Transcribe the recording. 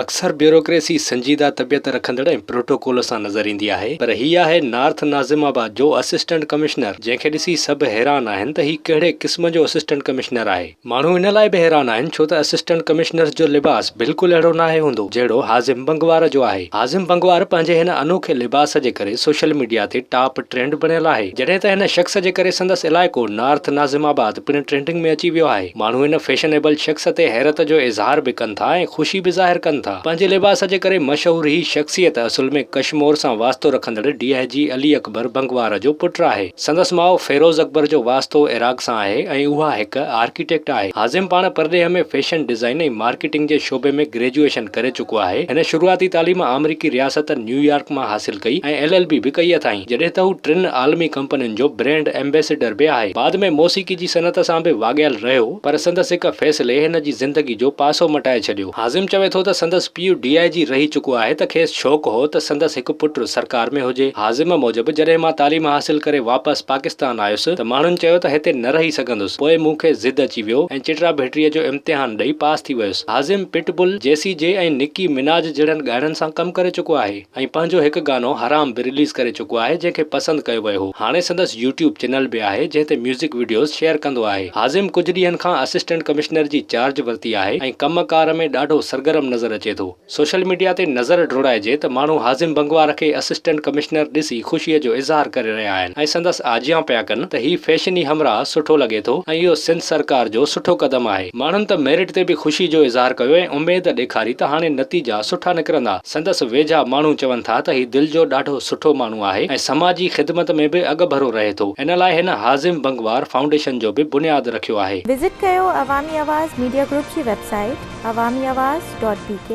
اڪثر بيوروڪريسي سنجيده طبيعت رکندڙ ۽ پروٽوڪول سان نظر ايندي آهي پر هي آهي نارٿ ناظم آباد جو اسسٽنٽ ڪمشنر جنهن کي ڏسي سڀ حيران آهن ته هي ڪهڙي قسم جو اسسٽنٽ ڪمشنر آهي. ماڻهو ان لاء به حيران آهن ڇو ته اسسٽنٽ ڪمشنرز جو لباس بلڪل اهڙو ناهي هوندو جهڙو هاضم بنگوار جو آهي. هاضم بنگوار پنهنجي هن انوکي لباس جي ڪري سوشل ميڊيا تي ٽاپ ٽرينڊ بڻيل آهي جڏهن ته هن شخص جي ڪري سندس علائقو نارٿ ناظم آباد پڻ ٽرينڊنگ ۾ اچي ويو آهي. ماڻهو ان فيشنيبل شخص تي حيرت جو اظهار به ڪن ٿا ۽ خوشي به ظاهر ڪن ٿا. پنهنجي لباس جي ڪري مشهور هي شخصيت اصل ۾ ڪشمور سان واسطو رکندڙ ڊي آء جي علي اڪبر بنگوار جو پٽ آهي. سندس ماء فيروز اڪبر جو واسطو عراق سان آهي ۽ اها هڪ آرڪيٽيڪٽ آهي. هازم پاڻ پرڏيهه ۾ فيشن ڊيزائن ۽ مارڪيٽنگ جي شعبي ۾ گريجوئيشن ڪري چڪو آهي. هن شروعاتي تعليم آمريڪي رياست نيويارڪ مان حاصل ڪئي ۽ ايل ايل بي به ڪئي اٿائين. جڏهن ته هو ٽن عالمي ڪمپنين جو برينڊ ايمبيسيڊر به آهي. بعد ۾ موسيقي جي جي صنعت سان به واڳيل رهيو پر سندس هڪ فيصلي هن جي زندگي جو پاسو مٽائي ڇڏيو. هاضم چوي ٿو ته سندس پيء ڊي آء جي رهي چڪو آهي ته کيس شوق هو ته سندس هڪ پٽ سرڪار ۾ هجي. هاضم موجب جڏهن مان تعليم حاصل ڪري واپس پاڪستان آيس ته ماڻهن چيو ته هتي نه رهي سگهندس پوء مون کي ضد اچي ويو ۽ چٽرا ڀٽري جو امتحان ڏئي پاس ٿي ويس. هاضم پٽ بل، جيسي جي ۽ نڪي مناج جهڙن ڳائڻن سان ڪم ڪري چڪو آهي. ۽ پنهنجو هڪ گانو حرام به رليز ڪري چڪو آهي جنهن کي پسند ڪيو ويو هو هاڻي سندس يوٽيوب چينل به آهي جنهن تي ميوزڪ وڊيوز شيئر ڪندو آهي حازم ڪجهه ڏينهن کان اسسٽنٽ ڪمشنر جي چارج ورتي آهي ۽ ڪم ڪار ۾ ڏاڍو سرگرم نظر اچي ٿو سوشل ميڊيا تي نظر ڊوڙائجي ته ماڻهو حازم بنگوار کي اسسٽنٽ ڪمشنر ڏسي خوشي جو اظهار ڪري رهيا آهن ۽ سندس آجيان پيا ڪن ته هي فيشني همراهه سٺو لڳي ٿو ۽ اهو سنڌ سرڪار جو سٺو قدم آهي ماڻهن ته ميرٽ تي به خوشي جو اظهار ڪيو ۽ اميد ڏيکاري ته هاڻي نتيجا سٺا نڪرندا. سندس ويجها ماڻهو چون ٿا ته هي دل جو ڏاڍو سٺو ماڻهو آهي ۽ سماجي خدمت ۾ به اڳڀرو رهي ٿو، ان لاء هن هاضم بنگوار فائونڊيشن جو به بنياد رکيو آهي. وزٽ ڪيو عوامي آواز ميڊيا گروپ جي website Awami Awaz dot بي ڪي.